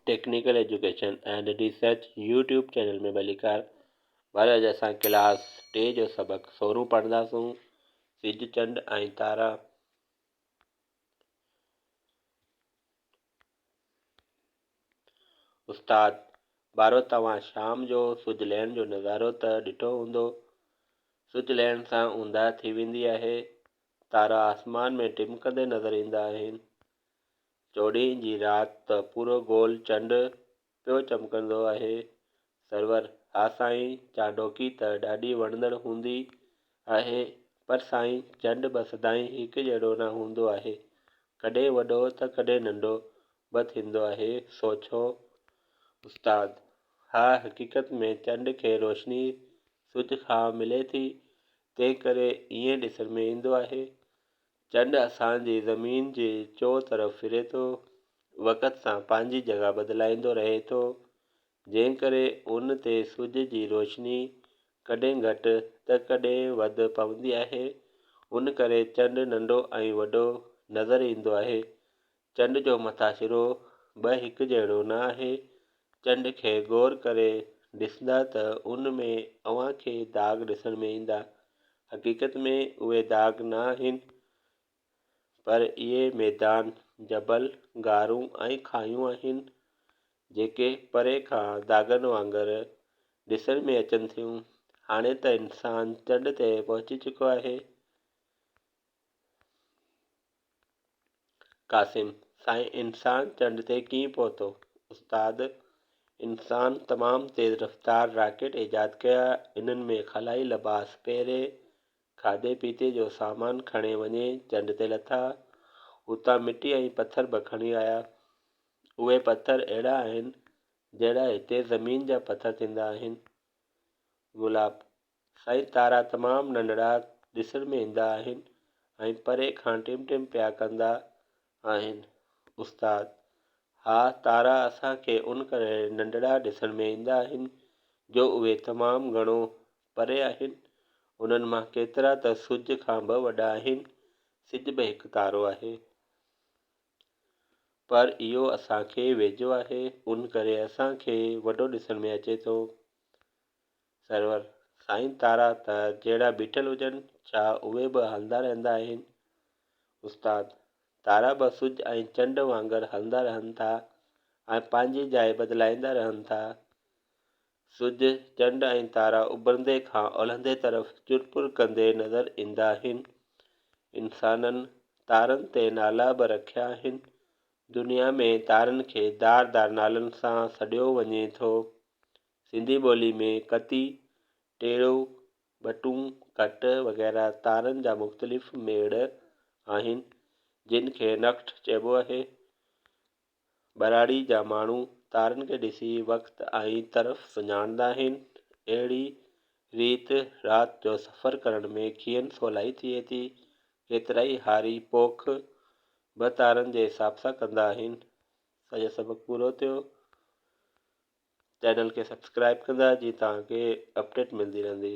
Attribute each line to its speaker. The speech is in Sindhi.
Speaker 1: Technical education and research YouTube channel ۾ ڀليڪار ور اڄ اسان ڪلاس ٽي جو سبق سورون پڙهنداسون سج چنڊ ۽ تارا استاد بارو توهان شام جو سج لهڻ جو نظارو ته ڏٺو هوندو سج لهڻ سان اونداهه ٿي ويندي آهي تارا آسمان ۾ ٽمڪندي نظر ايندا آهن چوڏهين جي رات ته پورو گول چنڊ پيو چمڪندو اهي سرور، ها سائين چانڊوڪي ته ڏاڍي وڻندڙ هوندي آهي پر سائين چنڊ به سدائين هڪ جهڙو نه هوندو آهي ڪڏهن وڏو ته ڪڏهن ننڍو به ٿيندو آهي سو ڇو؟ استاد، ها حقيقت ۾ چنڊ کي روشني سج کان ملي ٿي تنهن ڪري ائين ڏسڻ ۾ ايندو آهي چنڊ اسان جي زمين جي چوطرف ڦري ٿو، وقت سان پنهنجي جڳهه بدلائيندو رهي ٿو، جنهن ڪري ان تي سج جي روشني ڪڏهن گهٽ ته ڪڏهن وڌ پوندي آهي، ان ڪري چنڊ ننڍو ۽ وڏو نظر ايندو آهي، چنڊ جو مٿاڇرو به هڪ جهڙو نه آهي. چنڊ کي غور ڪري ڏسندا ته ان ۾ اوهان کي داغ ڏسڻ ۾ ايندا. حقيقت ۾ اهي داغ نه آهن پر اهي ميدان، جبل، غارون ۽ کاهيون آهن جيڪي پري کان داغن وانگر ڏسڻ ۾ اچن ٿيون. هاڻي ته انسان چنڊ تي پهچي چڪو آهي. قاسم، سائين انسان چنڊ تي ڪيئن پهتو؟ استاد، انسان تمام تيز رفتار راڪيٽ ايجاد ڪيا، انهن ۾ خلائي لباس پهري، کاڌي پيتي جو سامان کڻي وڃي چنڊ تي لٿا، اتان مٽي ۽ پٿر به کڻي آيا. اهي پٿر اهڙا آهن جهڙا هتي زمين جا پٿر ٿيندا آهن. گلاب، سائين تارا تمام ننڍڙا ڏسڻ ۾ ايندا آهن ۽ پري کان ٽم ٽم پيا ڪندا آهن استاد، ها تارا اسان کي ان ڪري ننڍڙا ڏسڻ ۾ ايندا آهن جو اهي تمام گهڻو پري آهن انهن مان ڪيترا ته سج کان به وڏا آهن سج به هڪ تارو آهي پر اهو اسان کي ويجهو آهي ان ڪري اسان کي وڏو ڏسڻ ۾ اچي ٿو. سرور، سائين تارا ته جهڙا بيٺل هجن ڇا اهي به هلندا رهندا آهن؟ استاد، تارا به سج ۽ چنڊ وانگر هلندا رهن ٿا ۽ پنهنجي جاء بدلائيندا رهن ٿا. سج، چنڊ ۽ تارا اڀرندي کان اولهندي طرف چر پور ڪندي نظر ايندا آهن. انسانن تارن تي نالا به رکيا آهن. دنيا ۾ تارن کي دار دار نالن سان سڏيو وڃي ٿو. سنڌي ٻولي ۾ ڪتي، ٽيڙو، ٻٽون، ڪٽ وغيره تارن جا مختلف ميڙ آهن، جن کي نڪٽ چئبو آهي. ٻهراڙي جا ماڻهو تارن کي ڏسي وقت ۽ طرف سڃاڻندا آهن. اهڙي ريت رات جو سفر ڪرڻ ۾ کين سولائي ٿئي ٿي. ڪيترائي هاري پوک به تارن جي حساب سان ڪندا آهن. سڄو سبق پورو ٿيو. چينل کي سبسڪرائب ڪندا جي توهان کي اپڊيٽ ملدي رهندي.